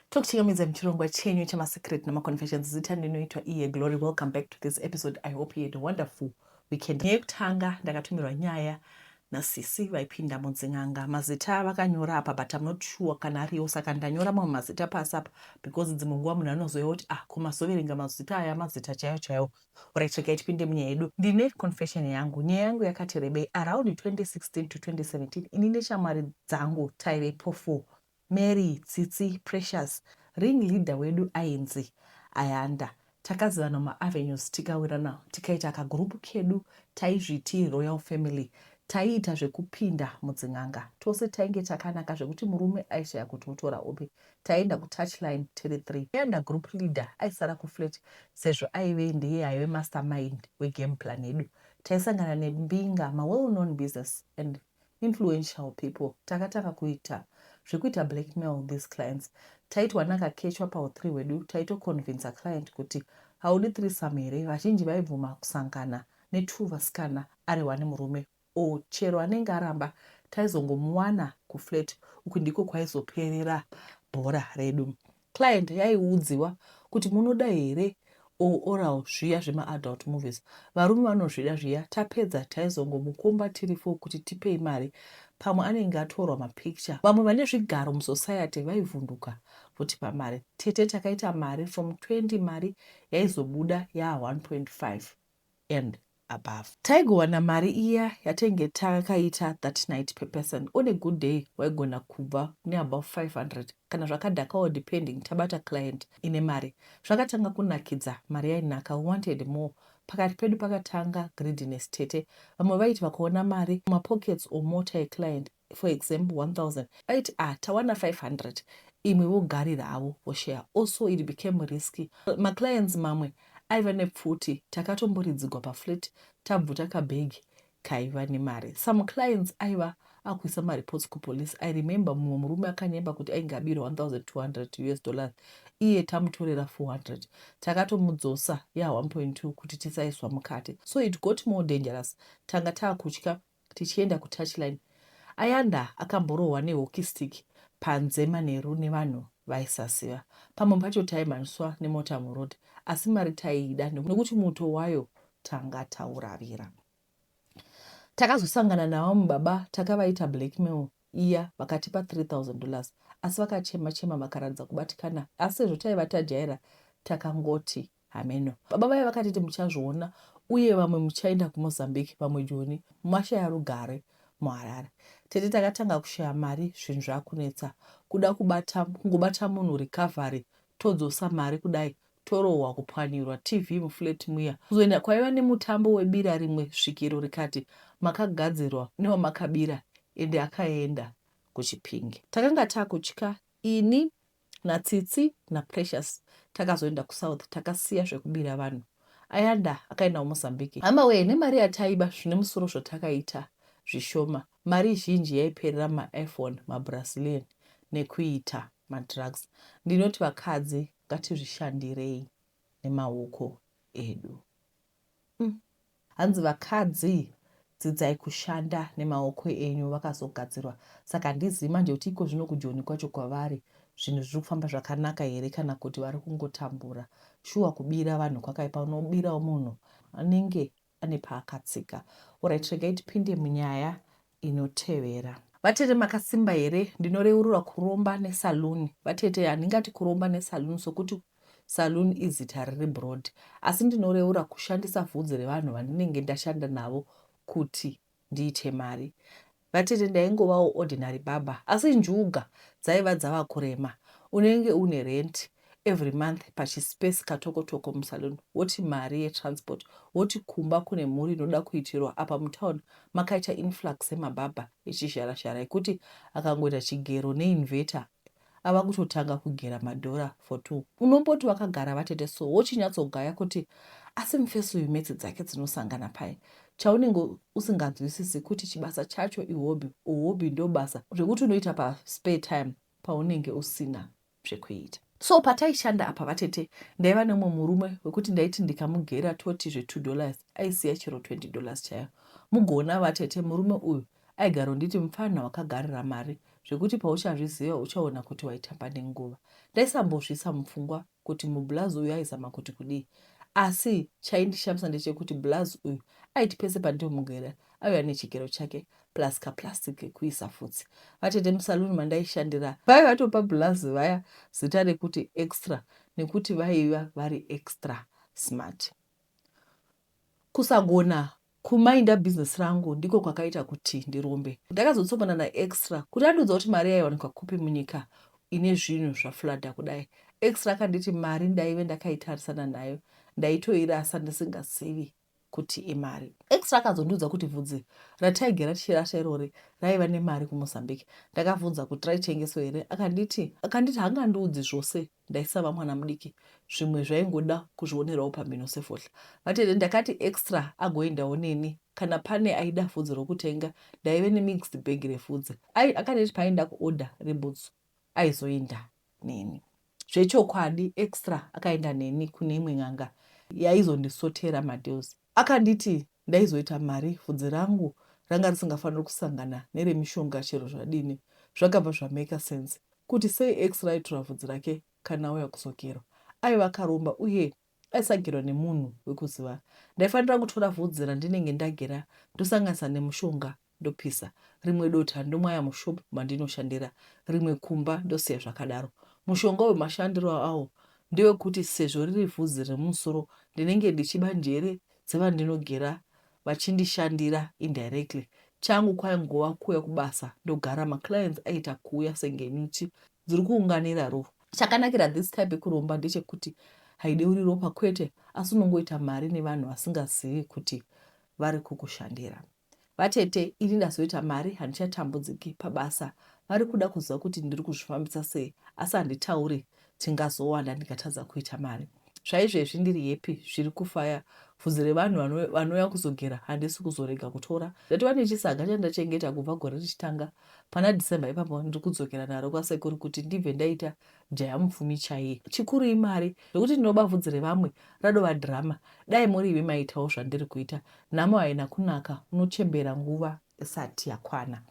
tokuchingamidza muchirongwa chenyu chemasecret nemaconfessions zita ndinoitwa iye glory welcome back to this episode i hope you had a wonderful weekend nyaya yekutanga ndakatumirwa nyaya nasisi vaipinda mudzin'anga mazita vakanyora apa but am not sure kana ariwo saka ndanyora mamwe mazita pasi apa because dzimwe nguva munhu anozouya kuti ah komazoverenga mazita aya mazita chaiwo chaiwo Alright regai tipinde munyaya yedu. Ndine confession yangu. Nyaya yangu yakati rebei around 2016 to 2017 ini neshamwari dzangu taivepo four, Mary, Tsitsi, Precious, ring leader wedu ainzi Ayanda. Takazivana muma avenues tikawirana tikaita ka group kedu taizviti royal family. Taiita zvekupinda mudzin'anga tose tainge takanaka zvekuti murume aishaya kuti otora upi. taienda kutouchline tiri three iye ndagroup leader aisara kuflat sezvo aive ndiye aive mastermind wegame plan yedu. Taisangana nembinga, mawell known business and influential people takatanga kuita zvekuita blackmail these clients. Taitowana kakechwa pahu three hwedu taitoconvincer client kuti haudi threesome here vazhinji vaibvuma kusangana netwo vasikana ari one murume Or chero anenge aramba taizongomuwana kuflat uku ndiko kwaizoperera bhora redu. Client yaiudziwa kuti munoda here or oral zviya zvema adult movies varume vanozvida zviya tapedza taizongomukomba tiri four kuti tipei mari pamwe anenge atorwa mapicture. Vamwe vane zvigaro musociety vaivhunduka votipa mari. Tete takaita mari from 20 mari yaizobuda yaa 1.5. and above. Taigowana mari iya yatainge takaita that night per person. On a good day waigona kubva neabove 500 kana zvakadhakawo depending tabata client ine mari. Zvakatanga kunakidza, mari yainaka, we wanted more. Pakati pedu pakatanga greediness tete. Vamwe vaiti vakaona mari mumapockets or mota yeclient for example 1000 aiti ah tawana 500 imwe vogarira havo voshare also it became risky maclients mamwe aiva nepfuti takatomboridzigwa paflat tabvuta kabhegi kaiva nemari some clients aiva akuisa mareports kupolice i remember mumwe murume akanyemba kuti ainge abira 1200 us dollars iye tamutorera 400 takatomudzosa ya 1.2 kuti tisaiswa mukati so it got more dangerous tanga taakutya Tichienda kuTouchline, Ayanda akamborohwa nehockey stick panze manheru nevanhu vaisaziva. Pamwe pacho taimhanyiswa nemota muroad asi mari taiida nekuti muto wayo tanga tauravira. Takazosangana navamwe baba takavaita blackmail iya vakatipa 3000 dollars asi vakachema chema vakaratidza kubatikana asi sezvo taiva tajaira takangoti Hameno. Baba vaye vakatiti muchazviona uye vamwe muchaenda kuMozambique vamwe Joni mashaya rugare muHarare. Tete takatanga kushaya mari zvinhu zvakunetsa kuda kubata kungobata munhu recovery todzosa mari kudai torohwa kupwanyirwa TV muflat muya kuzoenda kwaiva nemutambo webira rimwe svikiro rikati makagadzirwa newamakabira ende akaenda kuchipinge. Takanga takutya ini naTsitsi naPrecious takazoenda kuSouth takasiya zvekubira vanhu ayanda akaendawo Mozambique hama wee nemari yataiba zvine musoro zvatakaita zvishoma mari zhinji yaiperera maiphone mabrasilian nekuita madrugs ndinoti vakadzi ngatizvishandirei nemaoko edu mm. Hanzi vakadzi dzidzai kushanda nemaoko enyu vakazogadzirwa saka handizivi manje kuti ikozvino kujoni kwacho kwavari zvinhu zviri kufamba zvakanaka here kana kuti vari kungotambura. Shuwa kubira vanhu kwakaipa unobirawo munhu anenge ane paakatsika. Horait regai tipinde munyaya inotevera. Vatete makasimba here ndinoreurura kuromba nesaloon vatete handingati kuromba nesaloon sokuti saloon izita riri broad asi ndinoreura kushandisa vhudzi revanhu vandinenge ndashanda navo kuti ndiite mari vatete ndaingovawo ordinary baba asi njuga dzaiva dzava kurema unenge une renti every month pachispace katokotoko musalon woti mari yetransport woti kumba kune mhuri inoda kuitirwa apa mutown makaita influx emabhabha echizhara zhara ekuti akangoita chigero neinvetor ava kutotanga kugera madhora for two unomboti vakagara vatete so wochinyatsogaya kuti asi mufesi uyu metsi dzake dzinosangana paye chaunenge usinganzwisisi kuti chibasa chacho ihobby uhobby ndobasa zvekuti unoita paspare time paunenge usina zvekuita. So pataishanda apa vatete ndaiva nemumwe murume wekuti ndaiti ndikamugera toti zve two dollars aisiya chero twenty dollars chayo. Mugoona vatete murume uyu aigaronditi mupfanha wakagarira mari zvekuti pauchazviziva uchaona kuti waitamba nenguva. Ndaisambozviisa mupfungwa kuti mublazi uyu aizama kuti kudii asi chaindishamisa ndechekuti blazi uyu aiti pese pandinomugera aiuya nechigero chake plus kaplastic kekuisa futsi. Vatete musaluni mandaishandira vaive vatopa bhulazi vaya zita rekuti extra nekuti vaiva vari extra smart. Kusagona kumainda business rangu ndiko kwakaita kuti ndirombe. Ndakazotsongana naextra kuti andiudza kuti mari yaiwanikwa kupi munyika ine zvinhu zvaflada kudai. Extra akanditi mari ndaive ndakaitarisana nayo ndaitoirasa ndisingazivi. kuti imari. Extra akazondiudza kuti vhudzi rataigara tichirasha irori raiva nemari kuMozambique. Ndakavhunza kuti raitengeswa here akanditi akanditi hangandiudzi zvose ndaisava mwana mudiki zvimwe zvaingoda kuzvionerawo pamhino sefohla. Vatete ndakati Extra agoendawo neni kana pane aida vhudzi rokutenga ndaive nemixed bag revhudzi. Ai akanditi paaenda kuorder rebhutsu. aizoenda neni. Zvechokwadi Extra akaenda neni kune imwe n'anga yaizondisotera madeals. Akanditi ndaizoita mari, vhudzi rangu ranga risingafaniri kusangana neremishonga chero zvadini. Zvakabva zvamaker sense kuti sei Extra aitora vhudzi rake kana auya kuzogerwa. Aiva akaromba uye Aisagerwa nemunhu wekuziva. Ndaifanira kutora vhudzi randinenge ndagera ndosanganisa nemushonga ndopisa, rimwe dota ndomwaya mushop mandinoshandira, rimwe kumba ndosiya zvakadaro. Mushonga uyu mashandiro awo ndewekuti sezvo riri vhudzi remumusoro ndinenge ndichiba njere dzevandinogera vachindishandira indirectly. Changu kwaingova kuuya kubasa ndogara maclients aiita kuuya senge nyuchi dziri kuunganira rufu. Chakanakira this type yekuromba ndechekuti haideuri ropa kwete asi unongoita mari nevanhu vasingazivi kuti vari kukushandira. Vatete ini ndazoita mari handichatambudziki pabasa vari kuda kuziva kuti ndiri kuzvifambisa sei asi handitauri tingazowanda ndikatadza kuita mari. Zvaizvezvi ndiri yepi zviri kufaya vhudzi revanhu vanouya kuzogera handisi kuzorega kutora ndatova nechisaga chandachengeta kubva gore richitanga Pana December ipapo ndiri kudzokera naro kwasekuru kuti ndibve ndaita jaya mupfumi chaiye. Chikuru imari zvekuti ndinoba vhudzi revamwe radova drama. Dai muri imi maiitawo zvandiri kuita. Nhamo haina kunaka, unochembera nguva isati yakwana.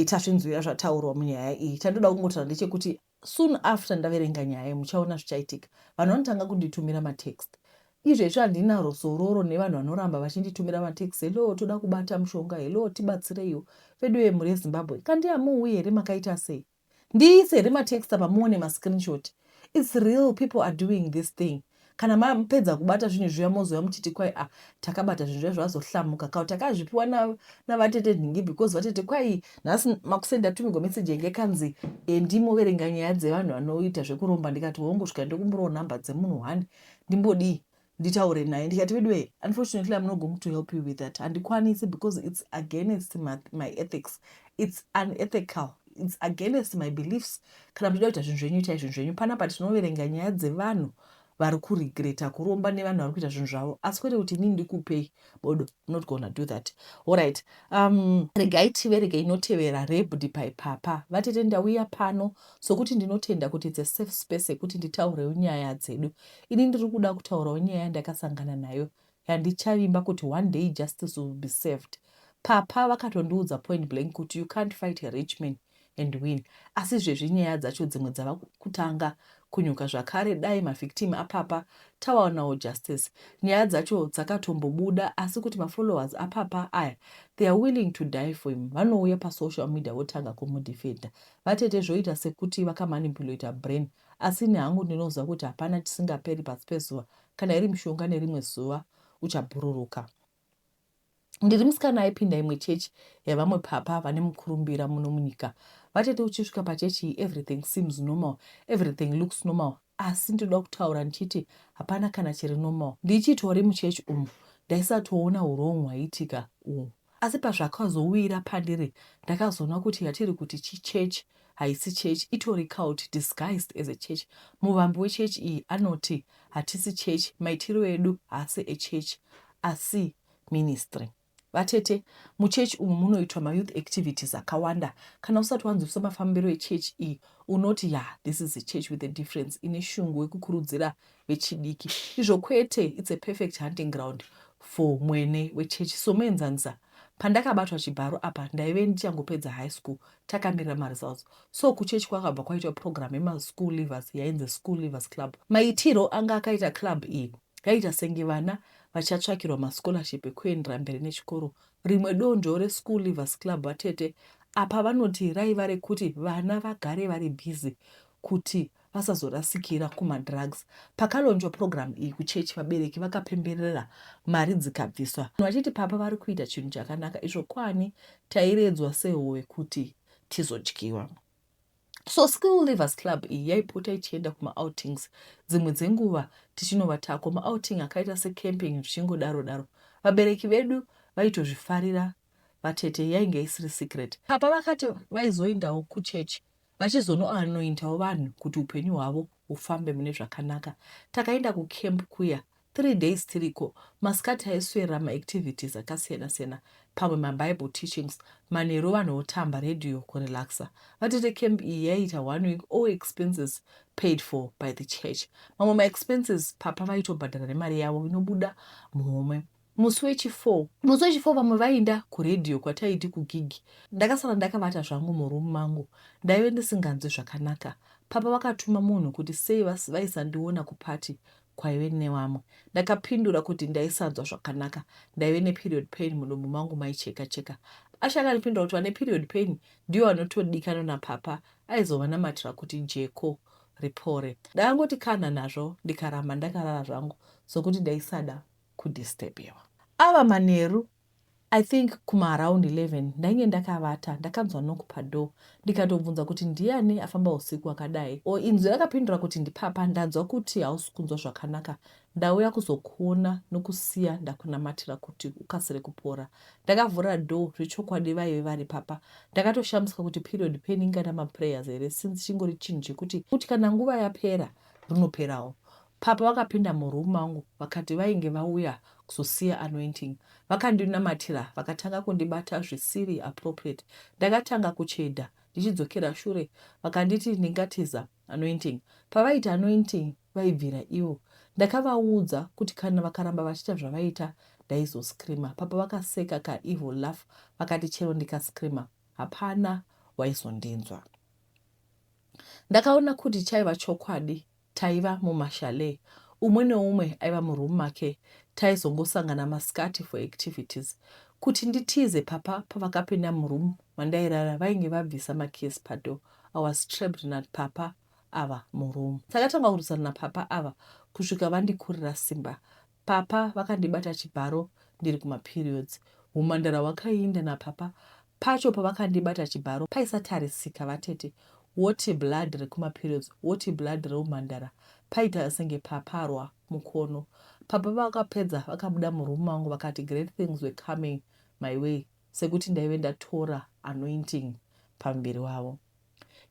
Tazvinzwira zvataurwa munyaya iyi. Chandinoda kungotaura ndechekuti Soon after ndaverenga nyaya iyi muchaona zvichaitika. Vanhu vanotanga kunditumira matext. Izvo izvo handina rusororo nevanhu vanoramba vachinditumira matext hello toda kubata mushonga hello tibatsireiwo. Veduwe mhuri yeZimbabwe kandi hamuuyi here makaita sei? Ndiise here matext apa muone mascreenshot. It's real people are doing this thing. kana mapedza kubata zvinhu zviya mozouya muchiti kwai a ah, takabata zvinhu zviya zvazohlamuka kau takazvipiwa navatete nhingi because vatete kwai nhasi makuseni ndatumigwa meseji yange kanzi endi eh, moverenga nyaya dzevanhu vanoita zvekuromba ndikati wongosvika ndokumbirawo nhamba dzemunhu hwani ndimbodii nditaure naye ndikati veduwe unfortunately am not going to help you with that handikwanisi because its against my, my ethics its unethical its against my beliefs kana muchida kuita zvinhu zvenyu itai zvinhu zvenyu panapa tinoverenga nyaya dzevanhu vari kuregreta kuromba nevanhu vari kuita zvinhu zvavo asi kwete kuti inini ndikupei bodo not gona do that allright um, regai tiverege inotevera rebdi paipapa vatete ndauya pano sokuti ndinotenda kuti its a safe space yekuti nditaurewo nyaya dzedu ini ndiri kuda kutaurawo nyaya yandakasangana nayo Handichavimba kuti one day justice will be served. Papa vakatondiudza point blank kuti you can't fight a rich man and win asi zvezvi nyaya dzacho dzimwe dzava kutanga kunyuka zvakare dai mavictim apapa tawaonawo justice. Nyaya dzacho dzakatombobuda asi kuti mafollowers apapa aya they are willing to die for him vanouya pasocial media votanga kumudefender. Vatete zvoita sekuti vakamanipulator brain asi ini hangu ndinoziva kuti hapana chisingaperi pasi pezuva kana iri mishonga nerimwe zuva uchabhururuka ndiri musikana aipinda imwe chechi yavamwe papa vane mukurumbira muno munyika vatete uchisvika pachechi iyi everything seems normal everything looks normal asi ndinoda kutaura ndichiti hapana kana chiri normal ndichitori muchechi umu ndaisatoona urongo hwaiitika uhu Asi pazvakazowira pandiri ndakazoona kuti yatiri kuti chichurch haisi church itori cult disguised as a church. Muvambi wechurch iyi anoti hatisi church maitiro edu haasi echurch asi ministry. Vatete, muchurch umu munoitwa mayouth activities akawanda. Kana usati wanzwisisa mafambiro echurch iyi unoti yah this is a church with a difference ine shungu wekukurudzira vechidiki izvo kwete its a perfect hunting ground for mwene wechechi somuenzanisa pandakabatwa chibharo apa ndaive ndichangopedza high school takamirira maresults so kuchechi kwakabva kwaitwa program yemaschool livers yainzi school livers club maitiro anga akaita club iyi yaiita senge vana vachatsvakirwa mascholarship ekuendera mberi nechikoro rimwe donzvo reschool livers club vatete apa vanoti raiva rekuti vana vagare vari busy kuti vasazorasikira kumadrugs. Pakalonjwa purogiramu iyi kuchechi, vabereki vakapemberera mari dzikabviswa vachiti papa vari kuita chinhu chakanaka izvo kwani tairedzwa sehove kuti tizodyiwa. So Skill Livers Club iyi yaipota ichienda kumaoutings dzimwe dzenguva tichinovatako maouting akaita secamping zvichingodaro daro. Vabereki vedu vaitozvifarira vatete yainge isiri secret. Papa vakati vaizoendawo kuchechi vachizonoanointawo vanhu kuti upenyu hwavo hufambe mune zvakanaka. Takaenda kucamp kuya three days tiriko, masikati aiswera maactivities akasiyana siyana pamwe mabible teachings, manheru vanhu votamba radio kurelaxer. Vatete camp iyi yaiita one week all expenses paid for by the church. Mamwe maexpenses papa vaitobhadhara nemari yavo inobuda muhomwe. Musi wechifour. Musi wechifour vamwe vainda kuRadio kwataiti kugig. Ndakasara ndakavata zvangu muroom mangu ndaive ndisinganzwe zvakanaka. Papa vakatuma munhu kuti sei vaisandiona kuparty kwaive nevamwe. Ndakapindura kuti ndaisanzwa zvakanaka ndaive neperiod pain mudumbu mangu maicheka cheka. Asha akandipindura kuti vane period pain ndivo vanotodikanwa napapa aizovanamatira kuti jeko ripore. Ndakangoti kanha nazvo ndikaramba ndakarara zvangu sokuti ndaisada kudisturbiwa. Ava manheru I think kuma around 11 ndainge ndakavata ndakanzwa knock padoor ndikatobvunza kuti ndiyani afamba husiku hwakadai or inzwi rakapindura kuti ndipapa ndanzwa kuti hausi kunzwa zvakanaka ndauya kuzokuona nokusiya ndakunamatira kuti ukasire kupora. Ndakavhura door zvechokwadi vaive vari papa ndakatoshamisika kuti period pain ingada maprayers here since chingori chinhu chekuti kuti kana nguva yapera rinoperawo. Papa vakapinda muroom mangu vakati vainge vauya kuzosiya anointing. Vakandinamatira vakatanga kundibata zvisiri appropriate. Ndakatanga kuchedha ndichidzokera shure vakanditi ndingatiza anointing. Pavaiti anointing vaibvira ivo. Ndakavaudza kuti kana vakaramba vachiita zvavaiita ndaizoscreamer. Papa vakaseka ka evil laugh vakati chero ndikascreamer hapana waizondinzwa. Ndakaona kuti chaiva chokwadi Taiva mumachalet umwe neumwe aiva muroom make taizongosangana masikati for activities. Kuti nditize papa pavakapinda muroom mandairara vainge vabvisa makeys padoor. I was trapped napapa ava muroom. Takatanga kurwisana napapa ava kusvika vandikurira simba Papa vakandibata chibharo ndiri kuma periods. Humhandara hwakaiinda napapa pacho pavakandibata chibharo paisatarisika vatete woti blood rekuma periods woti blood reumhandara paita senge paparwa mukono. Papa vakapedza vakabuda muroom mangu vakati great things were coming my way sekuti ndaive ndatora anointing pamuviri wavo.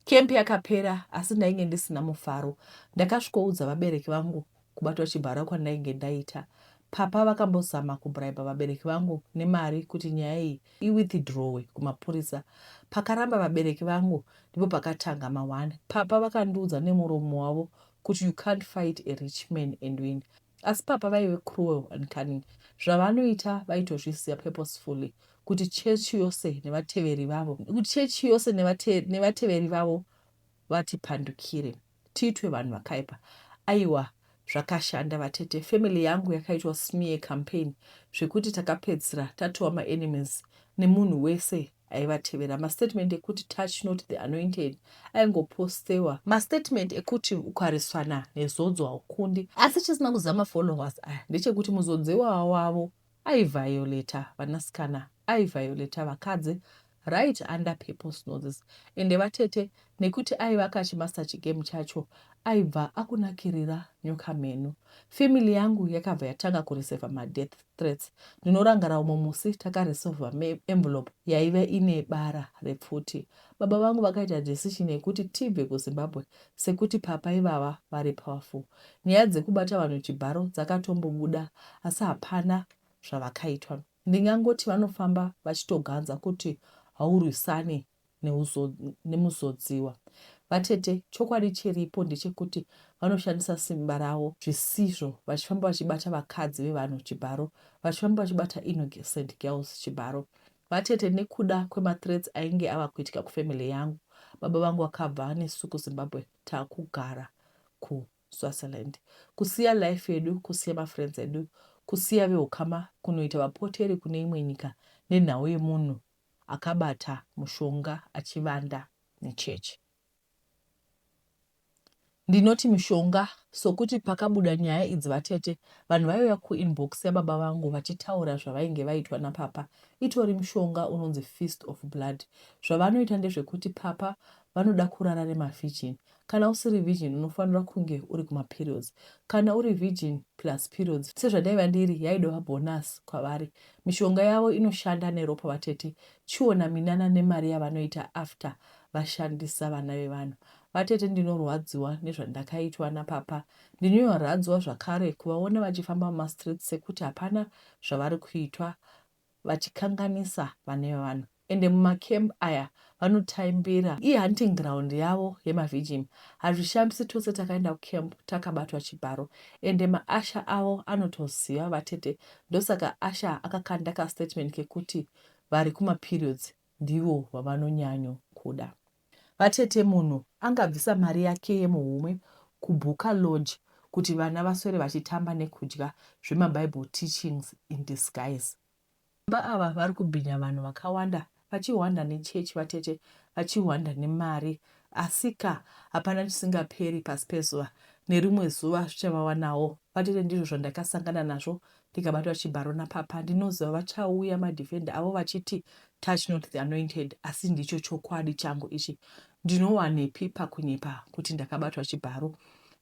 Camp yakapera asi ndainge ndisina mufaro. Ndakasvikoudza vabereki vangu kubatwa chibharo kwandainge ndaita. Papa vakambozama kubriber vabereki vangu nemari kuti nyaya iyi iwithdrowe kumapurisa. Pakaramba vabereki vangu ndipo pakatanga ma one. Papa vakandiudza nemuromo wavo kuti you can't fight a rich man and win. Asi papa vaive cruel and cunning zvavanoita vaitozviziva purposefully kuti church yose nevateveri vavo kuti church yose nevate, nevateveri vavo vatipandukire tiitwe vanhu vakaipa aiwa zvakashanda vatete family yangu yakaitwa smear campaign zvekuti takapedzisira tatova maenemies nemunhu wese aivatevera mastatement ekuti touch not the anointed aingopostewa mastatement ekuti ukareswana nezodzo haukundi asi chisina kuziva mafollowers aya ndechekuti muzodzi iwawa wavo aivioleta vanasikana aivioleta vakadzi right under peoples noses ende vatete nekuti aivaka chimaster chigame chacho aibva akunakirira nyoka mheno family yangu yakabva yatanga kureseva madeath threats. Ndinorangara umwe musi takaresolver me envelope yaive ine bara repfuti. Baba vangu vakaita decision yekuti tibve kuZimbabwe sekuti papa ivava vari powerful. Nyaya dzekubata vanhu chibharo dzakatombobuda asi hapana zvavakaitwa. Ndingangoti vanofamba vachitoganza kuti haurwisane nemuzodziwa. Vatete chokwadi chiripo ndechekuti vanoshandisa simba ravo zvisizvo vachifamba vachibata vakadzi vevanhu chibharo, vachifamba vachibata innocent girls chibharo. Vatete nekuda kwemathreats ainge ava kuitika kufamily yangu, baba vangu vakabva nesu kuZimbabwe takugara kuSwaziland. Kusiya life yedu, kusiya mafriends edu, kusiya vehukama kunoita vapoteri kune imwe nyika nenhau yemunhu akabata mushonga achivanda nechechi. Ndinoti mushonga sokuti pakabuda nyaya idzi vatete vanhu vaiuya kuinbox yababa vangu vachitaura zvavainge vaitwa napapa itori mushonga unonzi feast of blood zvavanoita ndezvekuti papa vanoda kurara nemavhijini Kana usiri virgin unofanira kunge uri kumaperiods. Kana uri virgin plus periods sezvandaiva ndiri yaidova bonus kwavari. Mishonga yavo inoshanda neropa vatete chiona minana nemari yavanoita after vashandisa vana vevanhu. Vatete ndinorwadziwa nezvandakaitwa napapa ndinyoradzwa zvakare kuvaona vachifamba mumastreets sekuti hapana zvavari kuitwa vachikanganisa vana vevanhu ende mumacamp aya vanotaimbira i hunting ground yavo yemavigim hazvishambisi tose takaenda kucamp takabatwa chibharo ende maasha avo anotoziva vatete ndosaka asha akakanda kastatement kekuti vari kumaperiods ndivo vavanonyanyo kuda Vatete munhu angabvisa mari yake yemuhomwe kubooker lodge kuti vana vaswere vachitamba nekudya zvema bible teachings in disguise. Baba ava vari kubhinya vanhu vakawanda vachihwanda nechurch vatete vachihwanda nemari asika hapana chisingaperi pasi pezuva nerimwe zuva zvichavawanawo vatete ndizvo zvandakasangana nazvo ndikabatwa chibharo napapa ndinoziva vachauya madefender avo vachiti touch not the anointed asi ndicho chokwadi changu ichi ndinowanepi pakunyepa kuti ndakabatwa chibharo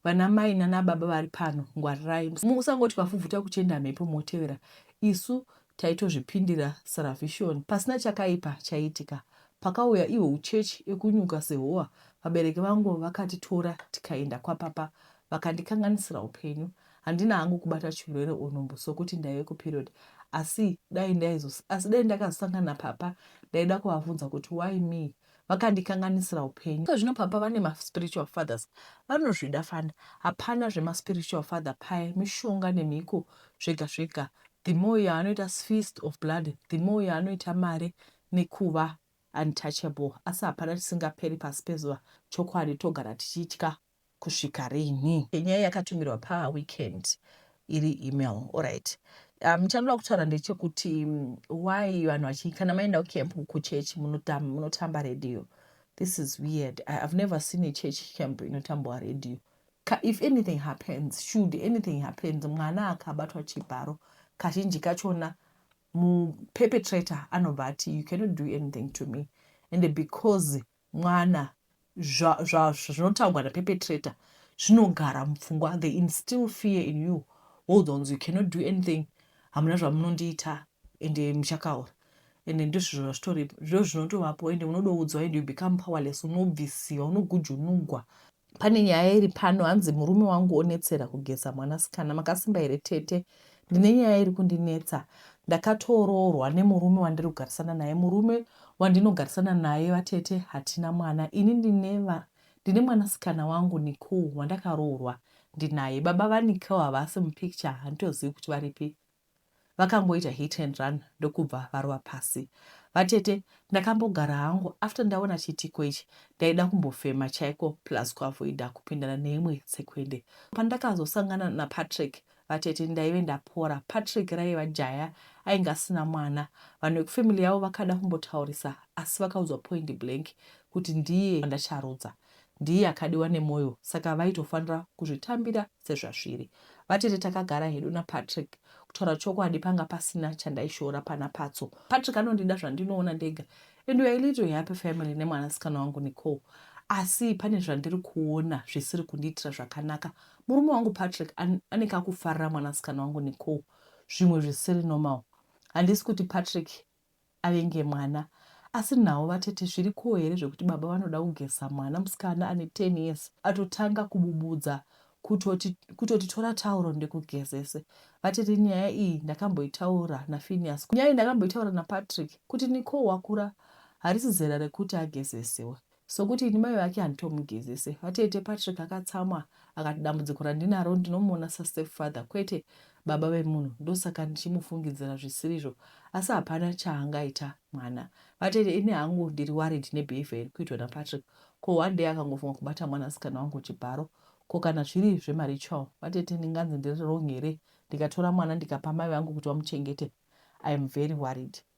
vana mai nana baba vari pano ngwarirai musangoti vafuvhuta kuchenda mhepo motevera isu taitozvipindira saravishoni pasina chakaipa chaiitika pakauya ihwo uchechi ekunyuka sehowa vabereki vangu vakatitora tikaenda kwapapa vakandikanganisira upenyu handina hangu kubata chirwere or nhumbu sokuti ndaive kuperiod asi dai ndaizos asi dai ndakazosangana napapa ndaida kuvavhunza kuti why me vakandikanganisira upenyu so zvino papa vane maspiritual fathers vanozvida fana hapana zvemaspiritual father paye mishonga nemhiko zvega zvega the more yaanoita feast of blood the more yaanoita mari nekuva untouchable asi hapana tisingaperi pasi pezuva chokwadi togara tichitya kusvika rinhi. Nyaya yakatumirwa pa weekend iri email alright. Um, chandinoda kutaura ndechekuti why vanhu vachi kana maenda kucamp kuchurch munotamba, munotamba radio this is weird I, i've never seen a church camp inotambwa radio Ka, if anything happens should anything happens mwana akabatwa chibharo kazhinji kachona muperpetrator anobva ati you cannot do anything to me and because mwana zva zva zvinotaugwa na perpetrator zvinogara mupfungwa they instill fear in you woudonzi you cannot do anything hamuna zvamunondiita ende muchakaura ende ndizvizvo zvazvitori zvo zvinotovapo ende unodoudzwa ende you become powerless unobvisiwa unogujunugwa Pane nyaya iri pano hanzi murume wangu onetsera kugeza mwanasikana. Makasimba here tete? Ndine nyaya iri kundinetsa. Ndakatoroorwa nemurume wandiri kugarisana naye. Murume wandinogarisana naye vatete hatina mwana. Ini ndine va, ndine mwanasikana wangu Nicole wandakaroorwa ndinaye. Baba vaNicole havasi mupicture handitozivi kuti varipi. Vakamboita hit and run ndokubva varova pasi. Vatete ndakambogara hangu after ndaona chiitiko ichi ndaida kumbofema chaiko plus kuavoida kupindana neimwe tsekwende. Pandakazosangana naPatrick vatete ndaive ndapora. Patrick raiva jaya ainge asina mwana. Vanhu vekufamily yavo vakada kumbotaurisa asi vakaudzwa point blank kuti ndiye wandacharudza. ndiye akadiwa nemoyo saka vaitofanira kuzvitambira sezvazviri. Vatete takagara hedu naPatrick. Kutaura chokwadi panga pasina chandaishora pana Patso. Patrick anondida zvandinoona ndega and we are a little happy family nemwanasikana wangu Nicole. Asi pane zvandiri kuona zvisiri kundiitira zvakanaka. Murume wangu Patrick an, ane kakufarira mwanasikana wangu Nicole zvimwe zvisiri normal. Handisi kuti Patrick avenge mwana asi nhau vatete zviri koo here zvekuti baba vanoda kugeza mwana musikana ane 10 years atotanga kububudza kutoti kutoti tora tauro ndikugezese vatete nyaya iyi ndakamboitaura naFinias nyaya iyi ndakamboitaura naPatrick kuti Nicole wakura harisi zera rekuti agezesewe Sokuti ini mai vake handitomugezese. Vatete Patrick akatsamwa akati dambudziko randinaro ndinomuona sastep father kwete baba vemunhu ndosaka ndichimufungidzira zvisirizvo asi hapana chaangaita mwana. Vatete ini hangu ndiri worried nebehavior iri kuitwa naPatrick ko one day akangofunga kubata mwana sikana wangu chibharo ko kana zviri zvemaritual vatete ndinganzi ndiri wrong here ndikatora mwana ndikapa mai vangu kuti vamuchengete. I am very worried.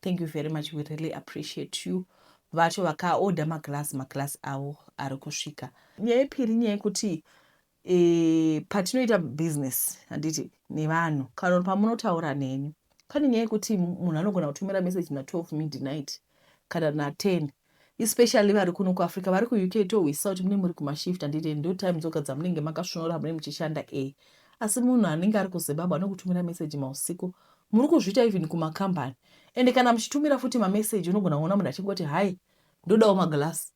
Thank you very much we really appreciate you vacho vakaoda maglass maglass avo ari kusvika nyaya yepiri nyaya yekuti e, patinoita business handiti nevanhu kana pamunotaura neni pane nyaya yekuti munhu anogona kutumira message na12 midnight kana na10 especially vari kuno kuafrica vari kuuk tohwisisa kuti mune muri kumashift handite ndo time dzoga dzamunenge makasvonora mune muchishanda e asi munhu anenge ari kuzimbabwe anokutumira meseji mausiku muri kuzviita even kumakambani ende kana muchitumira futi mameseji unogona kuona munhu achingoti hai ndodawo maglass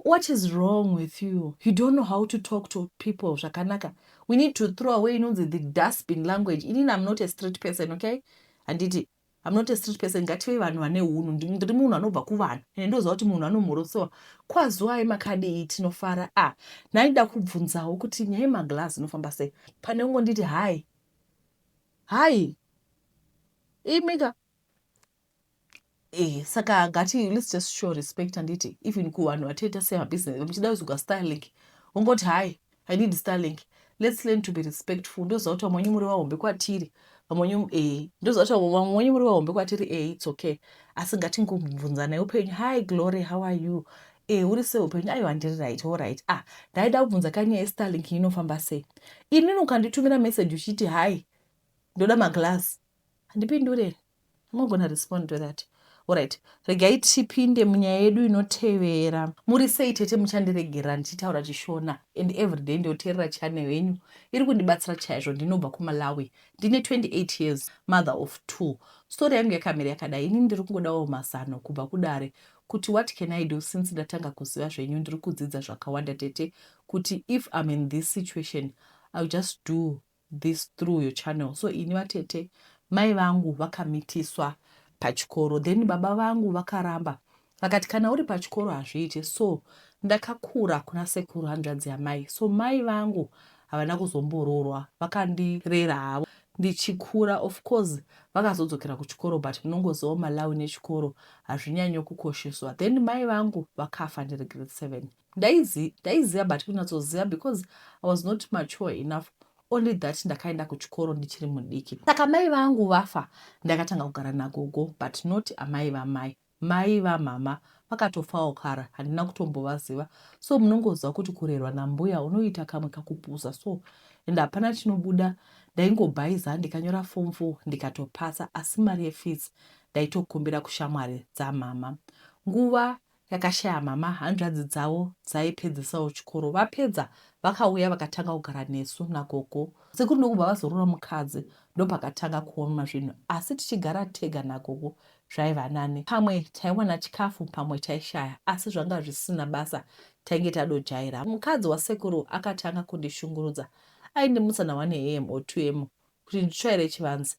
what is wrong with you you don't know how to talk to people zvakanaka we need to throw away inonzi the dustbin language inini am not a street person okay handiti I'm not a street person ngative vanhu vane hunhu ndiri munhu anobva kuvanhu ende ndoziva kuti munhu anomhorosowa kwazuwai makadii tinofara a ah, ndaida kubvunzawo kuti nyaya yemaglass inofamba sei pane ungonditi hai hai imika eh saka ngati let's just show respect anditi even kuvanhu vatoita semabusiness muchida kuzogwa starlink ungoti hai I need Starlink. Let's learn to be respectful. Ndoziva kuti vamwe wenyu muri vahombe kwatiri. Vamwe wenyu eh. Ndoziva kuti vamwe wenyu muri vahombe kwatiri eh it's okay. Asi ngatingobvunzanai upenyu. Hi Glory, how are you? Eh uri sei upenyu? Aiwa ndiri right, all right. Ah, ndaida kubvunza kani nyaya yeStarlink inofamba sei. Inini ukanditumira message uchiti hi ndoda maglass. Handipindure. Unogona respond to that. Alright, regai tipinde munyaya yedu inotevera. Muri sei tete muchandiregerera ndichitaura chishona and everyday ndioterera channel yenyu iri kundibatsira chaizvo ndinobva kumalawi ndine 28 years mother of two story yangu yakamira yakadai ini ndiri kungodawo mazano kubva kudare kuti what can i do since ndatanga kuziva zvenyu ndiri kudzidza zvakawanda tete kuti if im in this situation ill just do this through your channel so ini vatete mai vangu vakamitiswa pachikoro then baba vangu vakaramba vakati kana uri pachikoro hazviite so ndakakura kuna sekuru hanzvadzi yamai so mai vangu havana kuzomboroorwa vakandirera havo ndichikura of course vakazodzokera kuchikoro but munongozivawo malawi nechikoro hazvinyanyo kukosheswa then mai vangu vakafa ndiri grade seven Ndaizi, ndaiziva but kunyatsoziva because I was not mature enough only that ndakaenda kuchikoro ndichiri mudiki saka mai vangu vafa ndakatanga kugara nagogo but not amai vamai mai vamama vakatofawo kara handina kutombovaziva so munongoziva kuti kurerwa nambuya unoita kamwe kakupusa so and hapana chinobuda ndaingobhaiza ndikanyora fom fo ndikatopasa asi mari yefees ndaitokumbira kushamwari dzamama nguva yakashaya mama hanzvadzi dzavo dzaipedzisawo chikoro vapedza vakauya vakatanga kugara nesu nagogo sekuru ndokubva vazorora mukadzi ndopakatanga kuoma zvinhu asi tichigara tega nagogo zvaiva nani pamwe taiwana chikafu pamwe taishaya asi zvanga zvisina basa tainge tadojaira mukadzi wasekuru akatanga kundishungurudza aindimutsa na 1 am or 2 am kuti nditsvaire chivanzi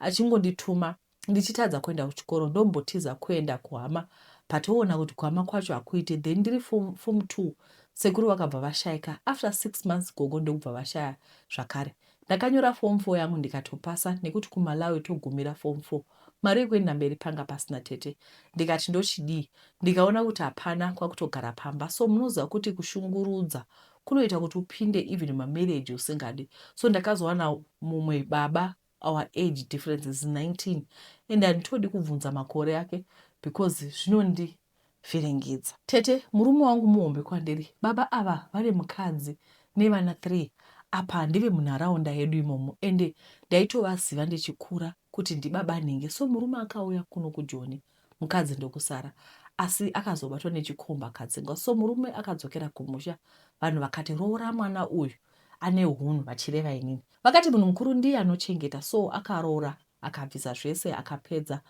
achingondituma ndichitadza kuenda kuchikoro ndombotiza kuenda kuhama but oona kuti kuhama kwacho hakuite then ndiri form, form two sekuru vakabva vashaika after six months gogo ndokubva vashaya zvakare ndakanyora form four yangu ndikatopasa nekuti kumalawi togumira form four mari yekuenda mberi panga pasina tete ndikati ndochidii ndikaona kuti hapana kwakutogara pamba so munoziva kuti kushungurudza kunoita kuti upinde even mamarriage usingadi so ndakazowana mumwe baba our age difference is 19 and handitodi kubvunza makore ake because zvinondivhiringidza tete murume wangu muhombe kwandiri baba ava vane mukadzi nevana 3 apa handive munharaunda yedu imomo ende ndaitovaziva ndichikura kuti ndibaba nhingi so murume akauya kuno kujoni mukadzi ndokusara asi akazobatwa nechikomba akadzingwa so murume akadzokera kumusha vanhu vakati roora mwana uyu ane hunhu vachireva inini vakati munhu mukuru ndiye anochengeta so akaroora akabvisa zvese akapedza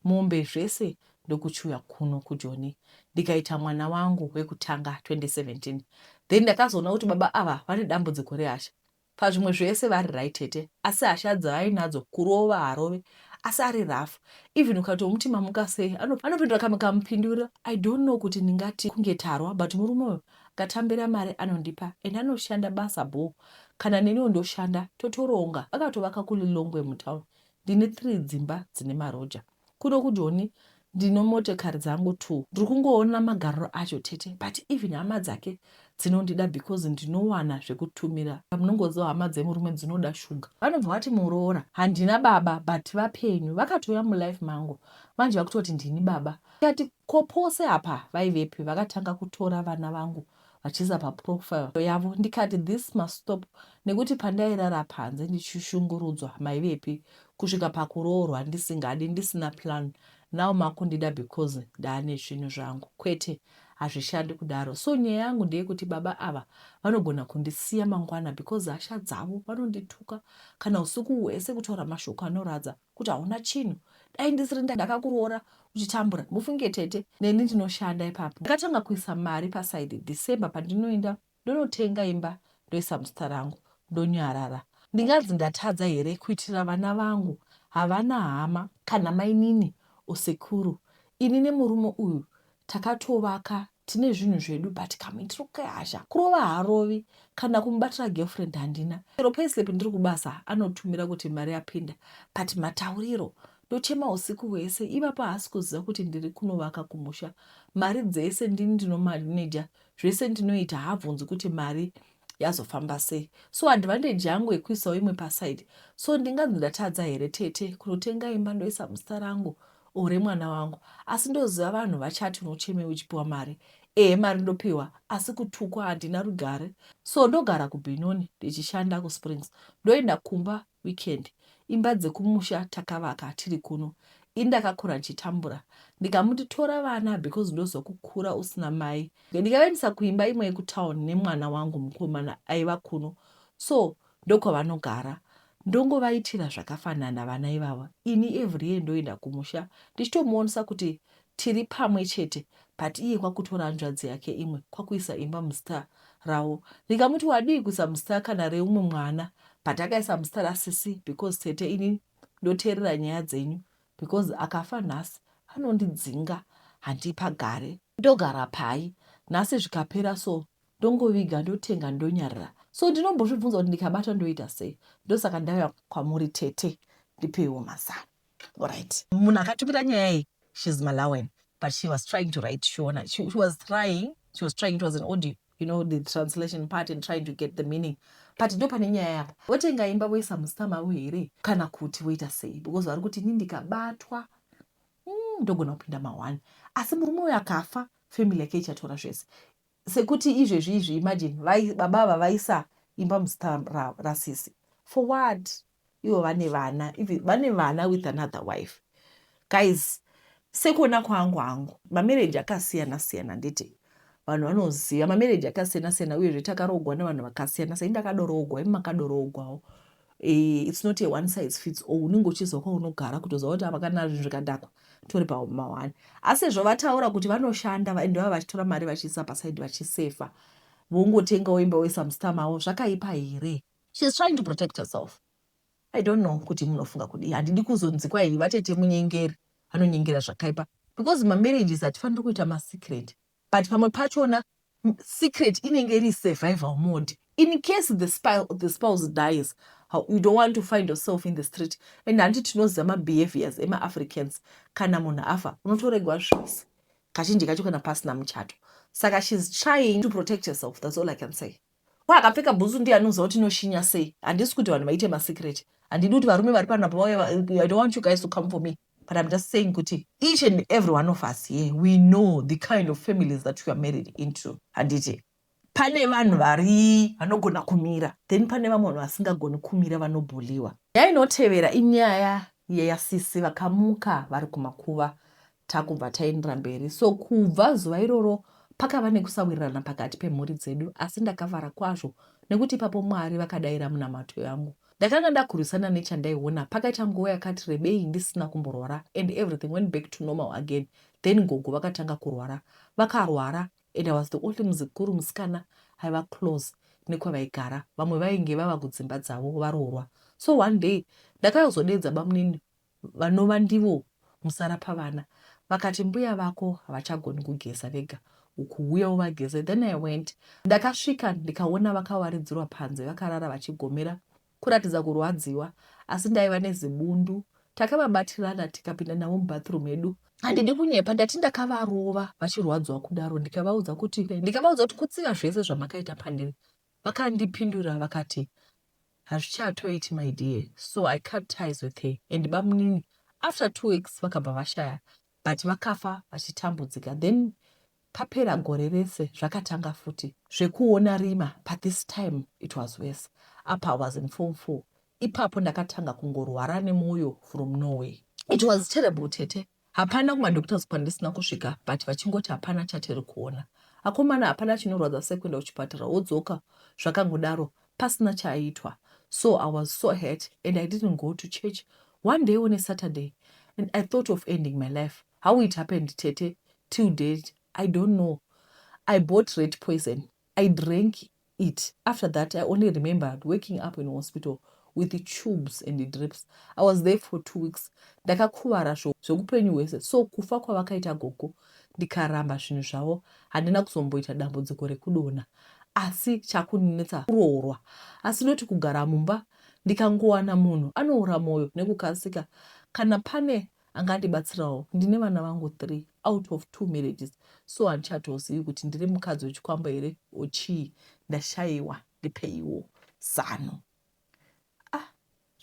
mombe zvese ndokuchuya kuno kujoni ndikaita mwana wangu wekutanga 2017 then ndakazoona kuti baba ava vane dambudziko rehasha Pazvimwe zvese vari right tete asi hasha dzaainadzo kurova harove asi ari rough even ukatomuti mamuka sei anopindura kamwe kamupinduro I don't know kuti ndingati kunge tarwa but murume uyo ndatambira mari anondipa and anoshanda basa bho kana neniwo ndoshanda totoronga akatovaka kuLilongwe mutown ndine three dzimba dzine maroja Kuno kuJoni ndine motekari dzangu two ndiri kungoona magariro acho tete but even hama dzake dzinondida because ndinowana zvekutumira munongoziva hama dzemurume dzinoda sugar. Vanobva vati muroora handina baba but vapenyu vakatouya mulife mangu manje vakutoti ndini baba ndikati ko pose apa vaivepi vakatanga kutora vana vangu vachiisa paprofile yavo ndikati this must stop nekuti pandairara panze ndichishungurudzwa maivepi kusvika pakuroorwa ndisingadi ndisina plan now makundida because ndaane zvinhu zvangu kwete hazvishandi kudaro so nyaya yangu ndeyekuti baba ava vanogona kundisiya mangwana because hasha dzavo vanondituka kana usiku hwese kutaura mashoko anoradza kuti hauna chinhu dai ndisiri ndakakuroora uchitambura mufunge tete neni ndinoshanda ipapo ndakatanga kuisa mari pasaidi december pandinoenda ndonotenga imba ndoisa muzita rangu ndonyarara ndinganzi ndatadza here kuitira vana vangu havana hama kana mainini usekuru ini nemurume uyu takatovaka tine zvinhu zvedu but kamuitiro kehasha kurova haarovi kana kumubatira girlfriend handina chero payslip ndiri kubasa anotumira kuti mari yapinda but matauriro ndochema usiku hwese ivapo haasi kuziva kuti ndiri kunovaka kumusha mari dzese ndini ndinomaneja zvese ndinoita haabvunzi kuti mari yazofamba sei so advantage yangu yekuisawo imwe paside so ndinganzi ndatadza here tete kunotenga imba ndoisa muzita rangu ore mwana wangu asi ndoziva vanhu vachati unochemei uchipiwa mari ehe mari ndopiwa asi kutukwa handina rugare so ndogara kubinoni ndichishanda kusprings ndoenda kumba weekend imba dzekumusha takavaka tiri kuno ini ndakakura ndichitambura ndikamuti tora vana because ndoziva kukura usina mai ndikavaendesa kuimba imwe yekutown nemwana wangu mukomana aiva kuno so ndokwavanogara ndongovaitira zvakafanana vana ivava ini every year ndoenda kumusha ndichitomuonesa kuti tiri pamwe chete but iye kwakutora hanzvadzi yake imwe kwakuisa imba muzita ravo ndikamuti wadii kuisa muzita kana reumwe mwana but akaisa muzita rasisi because tete ini ndoteerera nyaya dzenyu because akafa nhasi anondidzinga handipagare ndogara pai nhasi zvikapera so ndongoviga ndotenga ndonyarira so ndinombozvibvunza kuti ndikabata ndoita sei ndosaka ndauya kwamuri tete ndipeiwo mazano Alright. Munhu akatumira nyaya iyi she's Malawian but she was trying to write Shona. She, she was trying, she was trying it was an audio. You know the translation part and trying to get the meaning. But ndo pane nyaya yapa. Votenga imba voisa muzita mavo here kana kuti voita sei because vari kuti ini ndikabatwa hmm, ndogona kupinda mahwani asi murume uyo akafa family yake ichatora zvese sekuti izvezvi izvi imagine vai, baba ava vaisa imba muzita rasisi for what ivo vane vana vane vana with another wife guys sekuona kwangu hangu mamereji akasiyana siyana nditi vanhu vanoziva mamereji akasiyana siyana uyezve takarogwa nevanhu vakasiyana sai ndakadoroogwa imi makadoroogwawo Eh, it's not a one size fits all unenge uchiziva kwaunogara kutoziva kuti apa kana zvinhu zvikadhakwa tori pahuma one asi izvo vataura kuti vanoshanda and vava vachitora mari vachiisa pasaidi vachisefa vongotengawo imba woisa mustama avo zvakaipa here sheis trying to protect herself i don't know kuti munofunga kudii handidi kuzonzikwa iyi vatete munyengeri vanonyengera zvakaipa because mamarriages hatifaniri kuita masecret But pamwe pachona secret inenge iri survival mode in case the, spile, the spouse dies you don't want to find yourself in the street and hanti tinoziva mabehaviors emaafricans kana munhu afa unotoregwa zvese kazhinji kacho kana pasina muchato saka she's trying to protect herself that's all i can say Ko akapfeka bhutsu ndiye anonzwa kuti inoshinya sei? Handisi kuti vanhu vaite masecret. Handidi kuti varume vari pano apa vauya I don't want you guys to come for me. But I'm just saying kuti each and every one of us here we know the kind of families that we are married into. Handiti? Pane vanhu vari vanogona kumira then pane vamwe vanhu vasingagoni kumira vanobhuliwa. Nyaya inotevera inyaya yeyasisi vakamuka vari kumakuva Takubva taenderera mberi. So kubva zuva iroro pakava nekusawirirana pakati pemhuri dzedu asi ndakavara kwazvo nekuti ipapo Mwari vakadaira munamato yangu. Ndakanga ndakurwisana nechandaiona pakaita nguva yakati rebei ndisina kumborwara and everything went back to normal again then gogo vakatanga kurwara vakarwara and I was the only muzukuru musikana aiva close nekwavaigara vamwe vainge vava kudzimba dzavo varoorwa so one day ndakayozodeedza bamunini vanova ndivo musara pavana vakati mbuya vako havachagoni kugeza vega uku huya uvageze then i went ndakasvika ndikaona vakawaridzirwa panze vakarara vachigomera kuratidza kurwadziwa asi ndaiva nezibundu takavabatirana tikapinda navo mubathroom medu handidi kunyepa ndati ndakavarova vachirwadziwa kudaro ndikavaudza kuti ndikavaudza kuti kutsiva zvese zvamakaita pandiri vakandipindura vakati Hazvichatoiti my dear so I cut ties with her and bamunini after two weeks vakabva vashaya but vakafa vachitambudzika then papera gore rese zvakatanga futi zvekuona rima but this time it was worse apa I was in form four ipapo ndakatanga kungorwara nemwoyo from Norway. It was terrible tete Hapana kuma doctors kwandisina kusvika but vachingoti hapana chatiri kuona. Akomana hapana chinorwadza sekuenda kuchipatara wodzoka zvakangodaro pasina chaaitwa so I was so hurt and I didn't go to church one day on a Saturday and I thought of ending my life how it happened tete till date I don't know I bought red poison I drank it after that I only remembered waking up in hospital with the tubes and the drips I was there for two weeks ndakakuvara zvekupenyu hwese so kufa kwavakaita gogo ndikaramba zvinhu zvavo handina kuzomboita dambudziko rekudona asi chakuninetsa kuroorwa asi noti kugara mumba ndikangowana munhu anoora mwoyo nekukasika kana pane anga andibatsirawo ndine vana vangu three out of two marriages so handichatozivi kuti ndiri mukadzi wechikwambo here or chii ndashaiwa ndipeiwo zano ah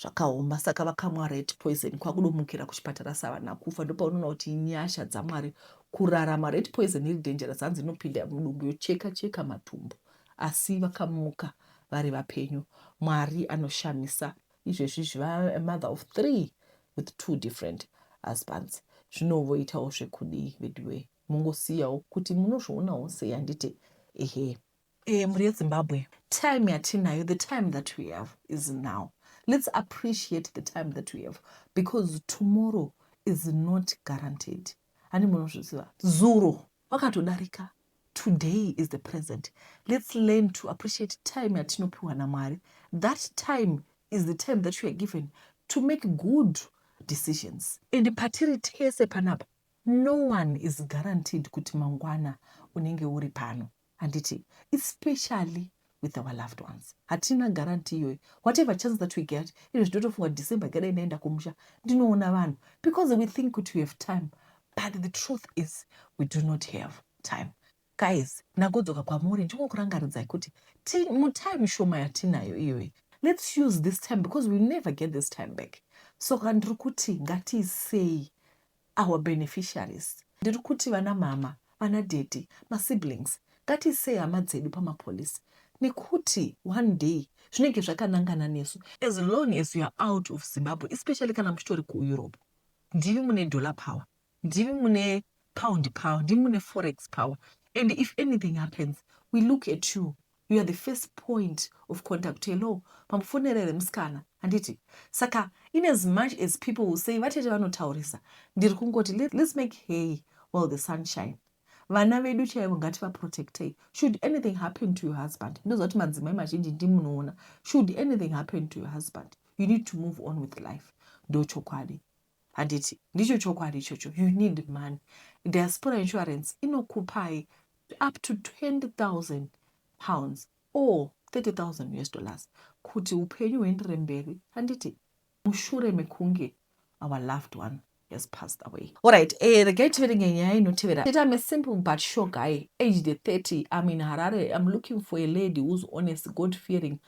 zvakaoma saka vakamwa red poison kwakudomukira kuchipatara savana kufa ndopaunoona kuti inyasha dzamwari kurarama red poison iri dangerous hanzi inopinda mudumbu yocheka cheka matumbu asi vakamuka vari vapenyu mwari anoshamisa izvezvi izvi vave mother of three with two different husbands zvino voitawo zvekudii veduwee mungosiyawo kuti munozvionawo sei handiti ehe e, mhuri yezimbabwe time yatinayo the time that we have is now let's appreciate the time that we have because tomorrow is not guaranteed hani munozviziva zuro vakatodarika Today is the present. Let's learn to appreciate time yatinopiwa naMwari. That time is the time that you are given to make good decisions. And patiri tese panapa, no one is guaranteed kuti mangwana unenge uri pano. Handiti, especially with our loved ones hatina guarantee iyoyo whatever chance that we get izvo zvinotofunga kuti december ikadai ndaenda kumusha ndinoona vanhu because we think kuti we have time but the truth is we do not have time guys nagodzoka kwamuri ndingokurangaridzai kuti mutime shoma yatinayo iyoyi let's use this time because we never get this time back so kandiri kuti ngatiisei our beneficiaries ndiri kuti vana mama vana daddy ma siblings ngatiisei hama dzedu pama police nekuti one day zvinenge zvakanangana nesu as long as you are out of Zimbabwe especially kana muchitori ku Europe ndimi mune dollar power ndimi mune pound power ndimi mune forex power and if anything happens we look at you You are the first point of contact. Hello, mamufonera here musikana? Handiti? Saka in as much as people will say vatete vanotaurisa, ndiri kungoti let, let's make hay while the sun shine. Vana vedu chaivo ngativaprotectei. Should anything happen to your husband, ndoziva kuti madzimai mazhinji ndimunoona. Should anything happen to your husband, you need to move on with life. Ndochokwadi. Handiti ndicho chokwadi ichocho? You need money. Diaspora insurance inokupai up to 20,000 pounds or 30,000 US dollars kuti upenyu huendere mberi, handiti mushure mekunge our loved one has passed away. All right, eh, regai tiverenge nyaya inotevera. It I'm a simple but sure guy, aged 30, I'm in Harare, I'm looking for a lady who's honest, God-fearing,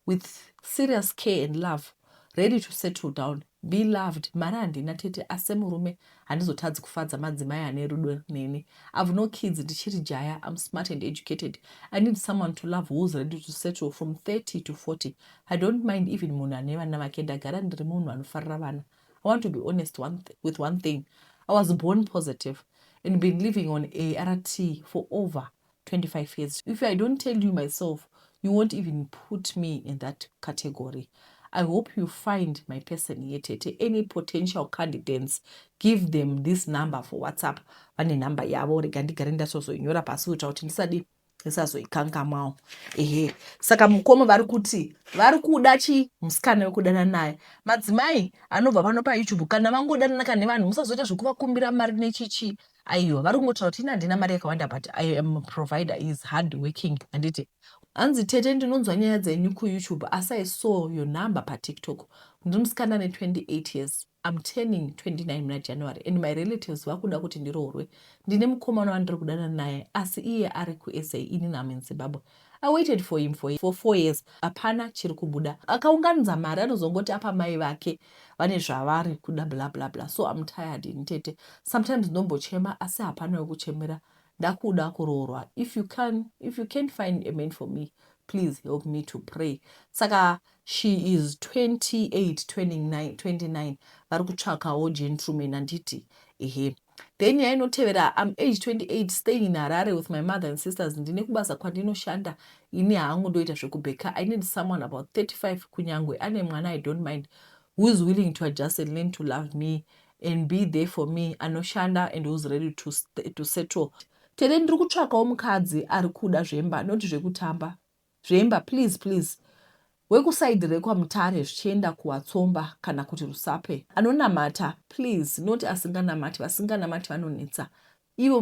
with serious care and love. ready to settle down be loved mari handina tete asi semurume handizotadzi kufadza madzimai ane rudo neni i've no kids ndichiri jaya i'm smart and educated i need someone to love who's ready to settle from 30 to 40 i don't mind even munhu ane vana vake ndagara ndiri munhu anofarira vana i want to be honest one with one thing i was born positive and been living on art for over 25 years if i don't tell you myself you won't even put me in that category i hope you find my person yetete any potential candidates give them this number for whatsapp vane nhamba yavo rega ndigare ndasozoinyora pasi kuitira kuti ndisadi ndisazoikangamwawo ehe saka mukoma vari kuti vari kuda chi musikana wekudana naye madzimai anobva pano payoutube kana vangodanana ka nevanhu musazoita zvekuvakumbira mari nechichii aiwa vari kungotaura kuti ini handina mari yakawanda but i am provider is hard working handiti hanzi tete ndinonzwa nyaya dzenyu kuyoutube asi i saw your number patiktok ndiri musikana ane 28 years im turning 29 muna january and my relatives vakuda kuti ndiroorwe ndine mukomana wandiri kudana naye asi iye ari kusa ini nam in zimbabwe I waited for him for for four years hapana chiri kubuda. Akaunganidza mari anozongoti apa mai vake vane zvavari kuda bla bla bla so I'm tired ini tete sometimes ndombochema asi hapana wekuchemera ndakuda kuroorwa if you can if you can't find a man for me please help me to pray saka She is 28 turning 29 vari kutsvakawo gentleman handiti ehe. Then nyaya inotevera I'm age 28 staying in Harare with my mother and sisters ndine kubasa kwandinoshanda ini hangu ndoita zvekubheka I need someone about 35 kunyangwe ane mwana I don't mind who is willing to adjust and learn to love me and be there for me anoshanda and who's ready to, to settle tete ndiri kutsvakawo mukadzi ari kuda zvemba not zvekutamba Zvemba please please wekuside rekwa mutare zvichienda kuwatsomba kana kuti rusape anonamata please not asinganamati vasinganamati vanonetsa ivo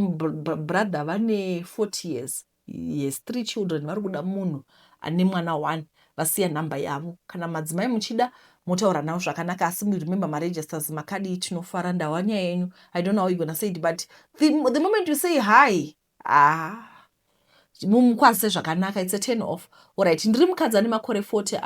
brother vane 40 years yes three children vari kuda munhu ane mwana one vasiya nhamba yavo kana madzimai muchida motaura navo zvakanaka asi remember maregisters makadii tinofara ndawa nyaya yenyu i don't know how you gonna say it but the, the moment you say hi Haa mumukwanise zvakanaka it's a turn off orit ndiri mukadzi ane makore 40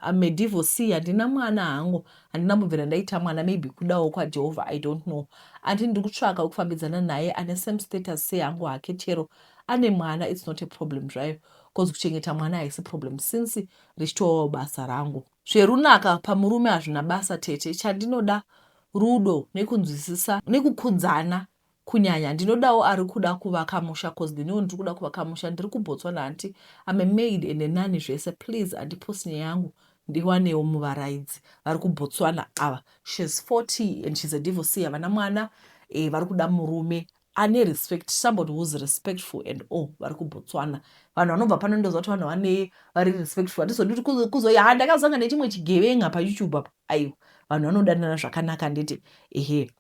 am medivorsee handina mwana hangu handina kumbobvira ndaita mwana maybe kudawo kwajehovha i don't know andi ndiri kutsvaka wekufambidzana naye ane same status seyangu hake chero ane mwana its not a problem zvayo bcause kuchengeta mwana haisi problem since richitovawo basa rangu zverunaka pamurume hazvina basa tete chandinoda rudo nekunzwisisa nekukudzana Kunyanya ndinodawo arikuda kuvaka musha coz neniwo ndirikuda kuvaka musha ndiri kuBotswana hanti I'm a maid and a nanny zvese please andipost nyaya yangu ndiwanewo muvaraidzi vari kuBotswana ava she's 40 and she's a divorcee havana mwana eh, vari kuda murume ane respect somebody who's respectful and all vari kuBotswana vanhu vanobva pano ndoziva kuti vanhu vane vari respectful hatizodi kuti kuzoya ha ah, ndakazanga nechimwe chigevenga paYouTube apa aiwa vanhu vanodanana zvakanaka nditi ehe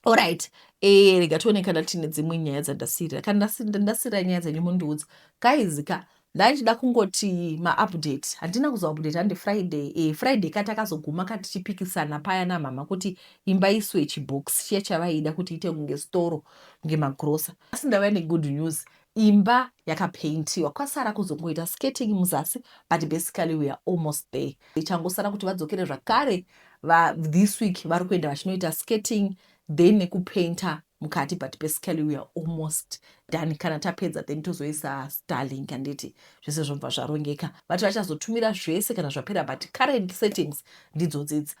Alright. Eh, rega tione kana tine dzimwe nyaya dzandasirira. Kana ndasirira nyaya dzenyu mundiudza. Guys ka ndaichida kungoti maupdate handina kuzoupdate handi friday e, friday ka takazoguma ka tichipikisana paya namama kuti imba iswe chibox chiya chavaida kuti ite kunge storo kunge magrosa asi ndava negood news Imba yakapaintiwa kwasara kuzongoita skating muzasi but basically we are almost there. Ichangosara kuti vadzokere zvakare va this week vari kuenda vachinoita skating then nekupainter mukati but basically we are almost done kana tapedza then tozoisa starlink handiti zvese zvobva zvarongeka vati vachazotumira zvese kana zvapera but current settings ndidzodzidzi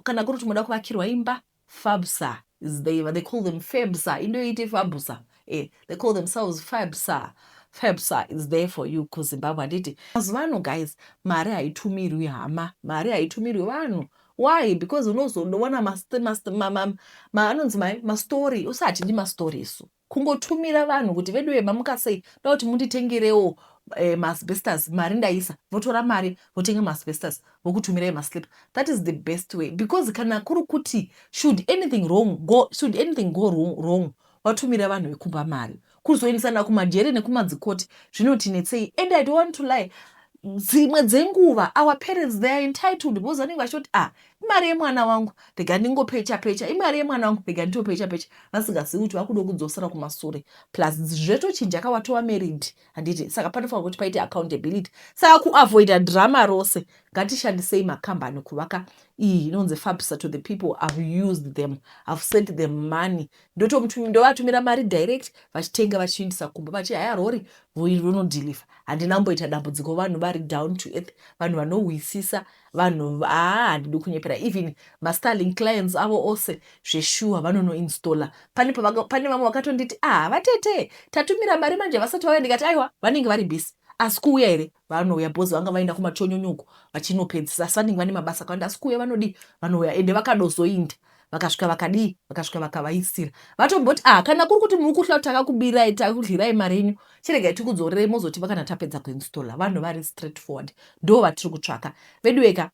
kana kuri kuti moda kuvakirwa imba Fabsa is they but they call them fabsa into iti fabusa eh they call themselves fabsa fabsa is there for you ku zimbabwe handiti mazuva ano guys mari haitumirwi hama mari haitumirwi vanhu why because unozodoona anonzi mai mastory usi hatidi mastory isu Kungotumira vanhu kuti veduwe mamukasei ndoda kuti munditengerewo eh, maasbestos mari ndaisa votora mari votenga maasbestos vokutumira emaslip that is the best way because kana kuri kuti should anything wrong go, should anything go wrong, wrong watumira vanhu vekumba mari kuzoendesana kumajeri nekumadzikoti zvinotinetsei and i don't want to lie dzimwe dzenguva our parents they are entitled because vanenge vachitoti ah imari yemwana wangu rega ndingopecha pecha imari yemwana wangu rega nditopecha pecha vasingazivi kuti vakuda kudzosera kumasure plus zvetochinja ka watova married handiti saka panofanira kuti paite accountability saka kuavoida drama rose ngatishandisei makambani kuvaka iyi inonzi fabsa to the people have used them have sent them money ndovatumira mari direct vachitenga vachiindisa kumba vachi haya rori rinodeliver handina kumboita dambudziko vanhu vari down to earth vanhu vanohwisisa vanhu haa handidi kunyepera even mastarling clients avo ose zveshuwa vanonoinstalla pane pane vamwe vakatonditi aha vatete tatumira mari manje vasati vauya ndikati aiwa vanenge vari busy asi kuuya here vanouya bhozi vanga vaenda kumachonyonyoko vachinopedzisa asi vanenge vane mabasa akawanda asi kuuya vanodii vanouya ende vakadozoinda vakasvika vakadii vakasvika vakavaisira vatomboti ah kana kuri kuti muri kuhla takakubirai takudyirai mari yenyu chiregai tikudzorerei mozoti vakana tapedza kuinstalla vanhu vari straight forward ndo vatiri kutsvaka veduweka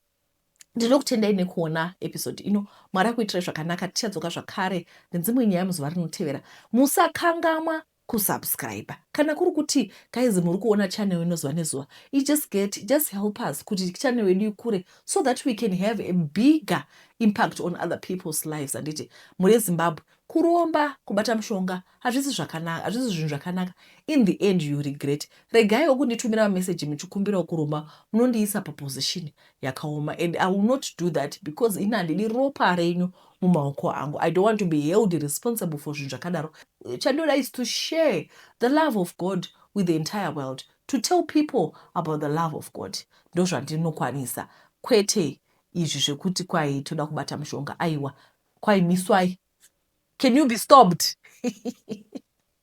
ndinokutendai nekuona episode ino mwari akuitirai zvakanaka tichadzoka zvakare nedzimwe nyaya muzuva rinotevera musakangamwa kusubscriber kana kuri kuti guys muri kuona channel ino zuva nezuva i just get just help us kuti channel yedu ikure so that we can have a bigger impact on other people's lives handiti mhuri yezimbabwe kuromba kubata mushonga hazvisi zvakanaka hazvisi zvinhu zvakanaka in the end you regret regai okunditumira mameseji muchikumbirawo kuromba munondiisa paposition yakaoma and i will not do that because ini handidi ropa renyu mumaoko angu i don't want to be held responsible for zvinhu zvakadaro chandinoda is to share the love of god with the entire world to tell people about the love of god ndozvandinokwanisa kwete izvi zvekuti kwai toda kubata mushonga aiwa kwai miswai can you be stopped